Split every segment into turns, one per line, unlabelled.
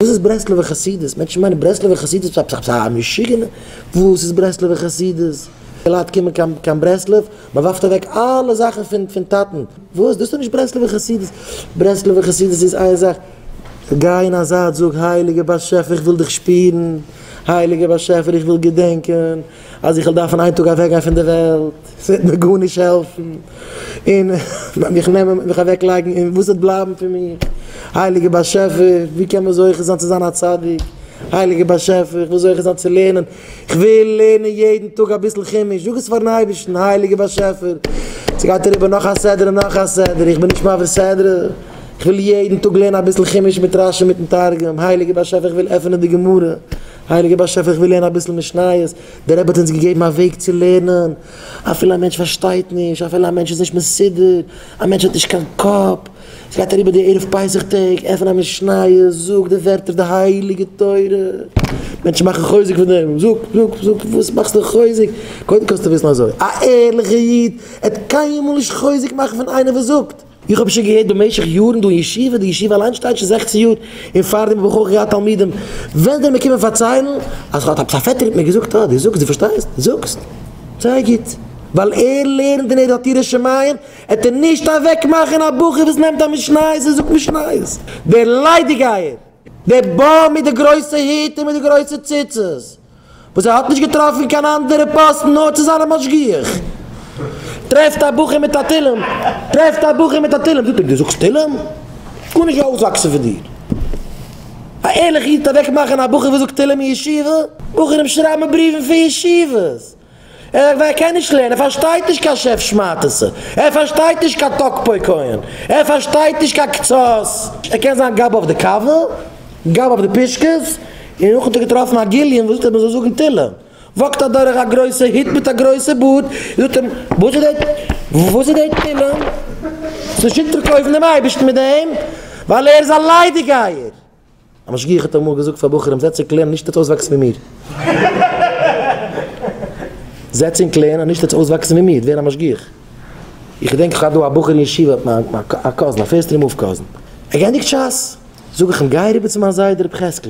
וואס איז ברסלב'ע חסידות? מענטשן מיינען ברסלב'ע חסידות פ פ פ א משוגענע. וואס איז ברסלב'ע חסידות? די לייט קומען קיין קיין ברסלב, מען ווארפט אוועק אלע זאכן פון פון טאטן. וואס? דאס איז דאך נישט ברסלב'ע חסידות. ברסלב'ע חסידות איז איין זאך, גיי אין א זייט זאג, הייליגער באשעפער איך וויל דיך שפירן, הייליגער באשעפער איך וויל געדענקען. אז איך וועל דארפן איין טאג אוועקגיין פון די וועלט, ס'וועט מיר גארנישט העלפן, און וועט מיך נעמען, וועט מיך אוועקלייגן, און וואס וועט בלייבן פון מיר? הייליגער באשעפער, ווי קען מען זוכה זיין צו זיין א צדיק? הייליגער באשעפער, איך וויל זוכה זיין צו לערנען, איך וויל לערנען יעדן טאג אביסל חומש, זאג עס פאר'ן אייבערשטן, הייליגער באשעפער, ס'גייט אריבער נאך א סדר און נאך א סדר, איך בין נישט מעביר סדרה, איך וויל יעדן טאג לערנען אביסל חומש מיט רשי מיט'ן תרגום, הייליגער באשעפער איך וויל עפענען די גמרא, הייליגער באשעפער איך וויל לערנען אביסל משניות, דער רבי האט אונז געגעבן א וועג צו לערנען, אפילו א מענטש פארשטייט נישט, אפילו א מענטש איז נישט מסודר, א מענטש האט נישט קיין קאפ, עס גייט אריבער די ערב פסח טעג, עפן א משניות, זאג די ווערטער די הייליגע תורה, מענטשן מאכן חוזק פון דעם, זאג זאג זאג וואס מאכסטו חוזק, קודם קענסטו וויסן אזוי, א ערליכער איד עט קיינמאל נישט חוזק מאכן פון איינער וואס זאגט. איך האב שוין געהערט במשך יארן דא אין ישיבה, די ישיבה אליין שטייט שוין זעכצן יאר, און פארדעם האב איך אויך געהאט תלמידים, וועלן זיי מיר קומען פארציילן אז האט עפעס א פעטער מיט מיר געזאגט, אה, דו זאגסט, דו פארשטייסט, זאגסט, זייער גוט, ווייל ער לערנט און ער האט יראת שמים, העט ער נישט אוועקמאכן א בחור וואס נעמט א משניות און זאגט משניות, דער ליידיגייער, דער באם מיט די גרויסע היט און מיט די גרויסע ציצית. וואס ער האט נישט געטראפן קיין אנדערע פאסטן נאר צו זיין א משגיח, טרעפט א בחור מיט א תהלים, טרעפט א בחור מיט א תהלים, זאגט אים דו זאגסט תהלים? גארנישט גייט אויסוואקסן פון דיר, א ערליכע איד טוט אוועקמאכן א בחור וואס זאגט תהלים אין ישיבה, בחורים שרייבן בריוון פון ישיבות. ער קען נישט לערנען, ער פארשטייט נישט קיין שעף שמאטעסע, ער פארשטייט נישט קיין טאלק פוי כהן, ער פארשטייט נישט קיין קצות, ער קען זיין גאב אויף די קאווע, גאב אויף די פישקעס, און נאכן האט ער געטראפן א גליון וואס זאגט אז מען זאל זאגן תהילים, וואקט אדורך א גרויסע היט מיט א גרויסע בארד, און זאגט אים, וואס איז דעי, וואס איז דעי תהילים? ס'שיקט דיך קויפן דעם אייבערשטן מיט דעם? ווייל ער איז א ליידיגייער! א משגיח האט אמאל געזאגט פאר בחורים זעצט און קלערן נישט עטס אויסוואקסן ווי מיר. זעצט און קלערן נישט עטס אויסוואקסן ווי מיר ווער א משגיח. איך געדענק איך האב דא א בחור אין ישיבה האט מיין א קאזין א פירסט רמב קאזין. ער געענדיגט שס זאג איך אים גיי אריבער צו מיין זיידע רבי חזקל.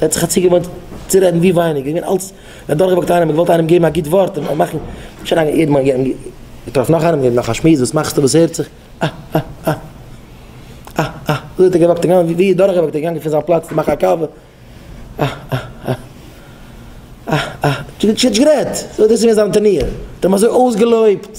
ער האט זיך א ציל געוואלט צו רעדן ווי ווייניגער, ער איז געווען אלץ אדורכגעוואקט איינעם, ער האט געוואלט איינעם געבן א גוט ווארט, ער האט מאכן שוין א יעדן מאל געטראפן נאך איינעם, געבן נאך א שמועס, וואס מאכסטו, וואס הערט זיך, אה אה אה אה אה אה, אזוי האט ער געוואקט און געוואנדערט, ווי אדורכגעוואקט, ער איז געגאנגען פון זיין פלאץ צו מאכן א קאווע, אה אה אה אה אה, נישט גערעדט, אזוי האט דאס געווען זיין טענער, ער האט אים אזוי אויסגעלויבט.